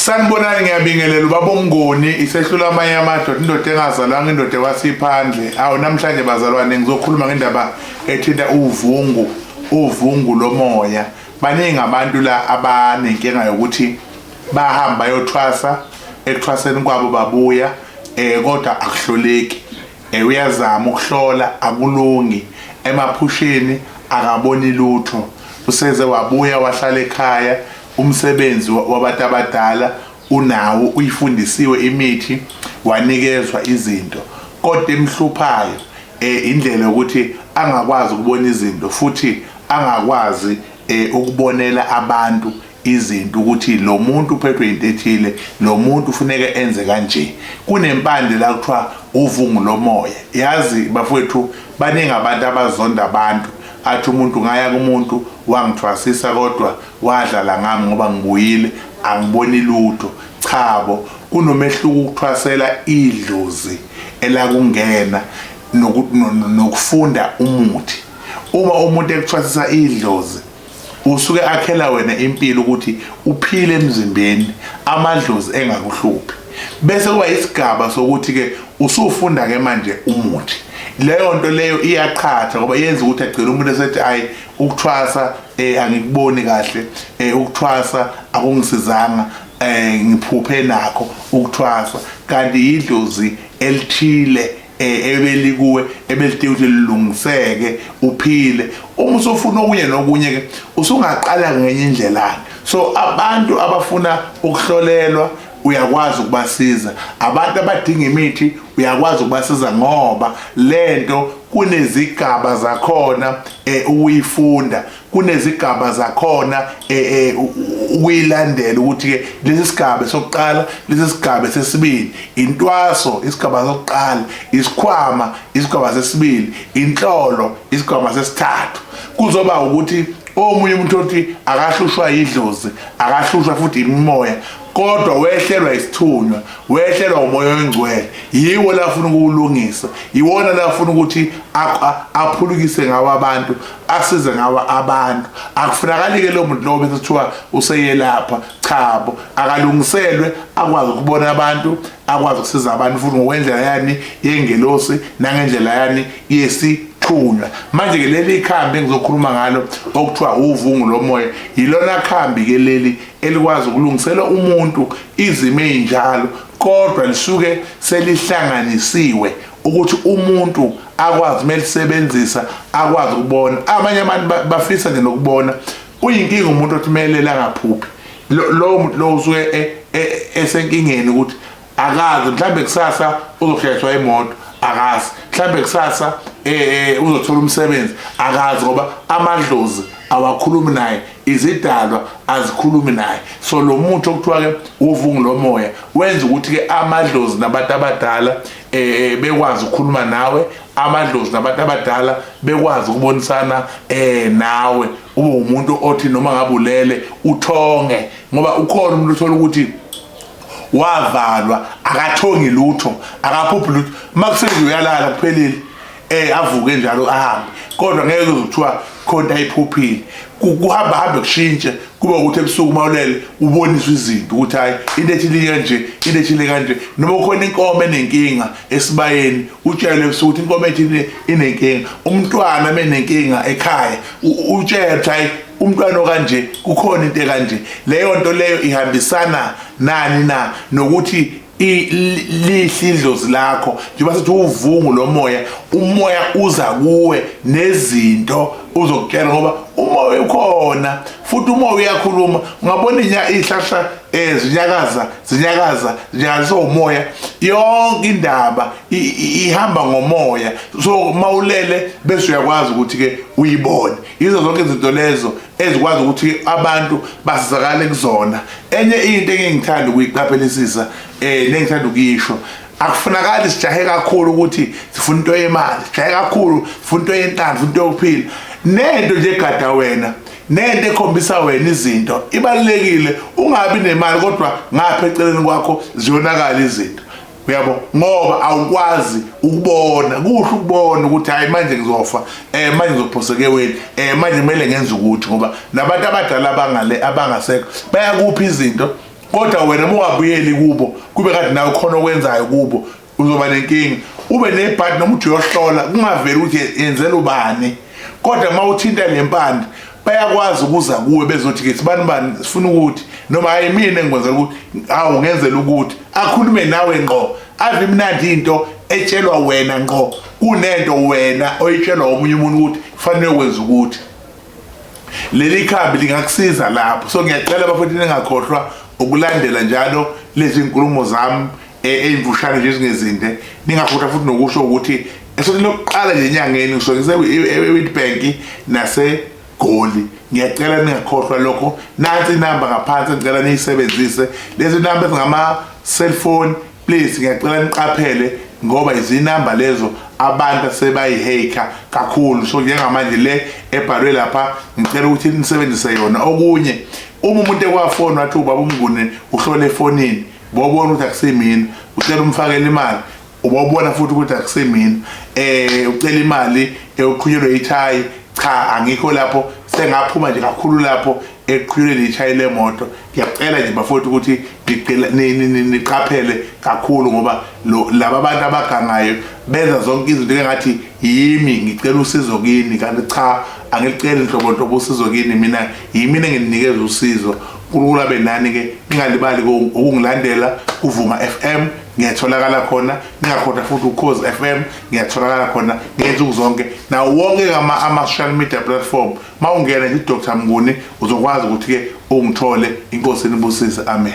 sanibonani ngiyabingelela ubaba omngoni isehlula amanye amadoda indoda engazalwanga indoda ekwasiphandle awu namhlanje bazalwane ngizokhuluma ngendaba ethinta uvungu uvungu lomoya baningi abantu la abanenkinga yokuthi bahamba bayothwasa ekuthwaseni kwabo babuya eh kodwa akuhloleki eh uyazama ukuhlola akulungi emaphusheni akaboni lutho useze wabuya wahlala ekhaya Umsebenzi wabantu abadala unawo uyifundisiwe imithi wanikezwa izinto kodwa emhluphayo eh indlela yokuthi angakwazi ukubona izinto futhi angakwazi eh ukubonela abantu izinto ukuthi lo muntu uphethwe into ethile lo muntu ufuneka enze kanje kunempande la kuthiwa uvungu lomoya yazi bafowethu baningi abantu abazonda abantu athi umuntu ngaya kumuntu wangithwasisa kodwa Wadlala ngami ngoba ngibuyile angiboni lutho. Cha bo, kunomehluko ukuthwasela idlozi elakungena nokufunda umuthi. Uma umuntu ekuthwasisa idlozi usuke akhela wena impilo ukuthi uphile emzimbeni amadlozi engakuhluphi bese kuba isigaba sokuthi ke usufunda ke manje umuthi leyo nto leyo iyaqhatha ngoba yenza ukuthi agcine umuntu esethi ayi ukuthwasa eh angikuboni kahle eh ukuthwasa akungisizanga eh ngiphuphe nakho ukuthwasa kanti yidlozi elithile eh, ebelikuwe ebelithe ukuthi lilungiseke uphile uma usufuna okunye nokunye ke usungaqala ngenye indlela so abantu abafuna ukuhlolelwa uyakwazi ukubasiza abantu abadinga imithi uyakwazi ukubasiza ngoba lento kunezigaba zakhona eh, ukuyifunda kunezigaba zakhona eh, eh, ukuyilandela ukuthi ke lesi sigaba sokuqala lesi sigaba sesibili intwaso isigaba sokuqala isikhwama isigaba sesibili inhlolo isigaba sesithathu kuzoba ukuthi omunye umuntu othi akahlushwa yidlozi akahlushwa futhi imimoya kodwa wehlelwa isithunywa wehlelwa umoya oyingcwele yiwo lafuna ukuwulungisa yiwona lafuna ukuthi aphulukise ngawo abantu asize ngawo abantu akufunakali-ke lo muntu lowo bese kuthiwa useyelapha chabo akalungiselwe akwazi ukubona abantu akwazi ukusiza abantu futhi ngokwendlela yani yengelosi nangendlela yani yesi thunywa manje ke leli khambi engizokhuluma ngalo okuthiwa uvungu lomoya yilona khambi ke leli elikwazi ukulungisela umuntu izimo ezinjalo kodwa lisuke selihlanganisiwe ukuthi umuntu akwazi melisebenzisa akwazi ukubona abanye abantu bafisa nje nokubona kuyinkinga umuntu othi melele angaphuphi lowo muntu lowo usuke e, e, esenkingeni ukuthi akazi mhlawumbe kusasa uzohlehliswa imoto akazi mhlawumbe kusasa eh uzothola umsebenzi akazi ngoba amadlozi awakhulumi naye izidalwa azikhulumi naye so lo muntu okuthiwa ke uvungu lomoya wenza ukuthi ke amadlozi nabantu abadala eh bekwazi ukukhuluma nawe amadlozi nabantu abadala bekwazi ukubonisana eh nawe ube umuntu othi noma ngabulele uthonge ngoba ukhona umuntu othola ukuthi wavalwa akathongi lutho akaphuphi lutho uma kufika nje uyalala kuphelile um avuke njalo ahambe kodwa ngeke uze kuthiwa khona ayiphuphile kuhamba hambe kushintshe kube ukuthi ebusuku uma ulele uboniswe izinto ukuthi hhayi into ethile kanje into ethile kanje noma ukhona inkomo enenkinga esibayeni utshelwe ebusuku ukuthi inkomo ethile inenkinga umntwana menenkinga ekhaya utshele ukuthi hayi umntwana okanje kukhona into ekanje leyo nto leyo ihambisana nani na nokuthi lihle idlozi lakho njengoba sithi uvungu lomoya umoya uza kuwe nezinto uzokutshela ngoba umoya ukhona futhi umoya uyakhuluma ungabona ihlahla um zinyakaza zinyakaza zinyakaza umoya yonke indaba ihamba ngomoya so mawulele bese uyakwazi ukuthi ke uyibone yizo zonke izinto lezo ezikwazi ukuthi abantu basizakale kuzona enye into engingithanda ukuyiqaphelisisa eh nengithanda ukuyisho akufunakali sijahe kakhulu ukuthi sifuna into yemali sijahe kakhulu sifuna into yentanzi sifuna into yokuphila nento nje egada wena nento ekhombisa wena izinto ibalekile ungabi nemali kodwa ngapha eceleni kwakho ziyonakala izinto uyabo ngoba awukwazi ukubona kuhle ukubona ukuthi hayi manje ngizofa eh manje ngizophoseke weni eh manje kumele ngenze ukuthi ngoba nabantu abadala abangale abangasekho bayakuphi izinto kodwa wena mungabuyeli kubo kube kade nawe khona okwenzayo kubo uzoba nenkingi ube nebhadi noma uthi uyohlola kungaveli ukuthi yenzela ubani kodwa uma uthinta le mpande bayakwazi ukuza kuwe bezothi ke sibani bani sifuna ukuthi noma hayi mina engikwenza ukuthi awu ngenzela ukuthi akhulume nawe ngqo ave imnandi into etshelwa wena ngqo kunento wena oyitshelwa omunye umuntu ukuthi kufanele wenza ukuthi leli khambi lingakusiza lapho so ngiyacela bafethu ningakhohlwa ukulandela njalo lezi nkulumo zami eh, eyimfushane nje ezingezinde ningafutha futhi nokusho ukuthi esothi lokuqala nje enyangeni ngisuke ngise-wit bank nasegoli ngiyacela ningakhohlwa lokho nansi inamba ngaphansi ngicela niyisebenzise lezi namba ezingama-cellphone please ngiyacela niqaphele ngoba izinamba lezo abantu sebayiheyikha kakhulu so njengamanje le ebhalwe lapha ngicela ukuthi nisebenzise yona okunye uma umuntu ekwafoni wathi ubaba umnguni uhlole efonini bobona ukuthi akusemini ucela umfakele imali ubobona futhi ukuthi akusemini eh ucela imali ewuqhunyelwe eh, ithayi cha angikho lapho sengaphuma nje kakhulu lapho eqhulele ishaye lemoto ngiyacela nje bafowethu ukuthi ngicela niqaphele kakhulu ngoba laba abantu abagangayo benza zonke izinto engathi yimi ngicela usizo kini kanti cha angiliceli nhlobo nhlobo usizo kini mina yimina engininikeza usizo Kulula benani ke ningalibali ukungilandela kuvuma FM ngiyatholakala khona ningakhoda futhi uCause FM ngiyatholakala khona ngenza ukuzonke nawo wonke kama ama social media platform mawungena nje Dr Mnguni uzokwazi ukuthi ke ungithole inkosi inibusise amen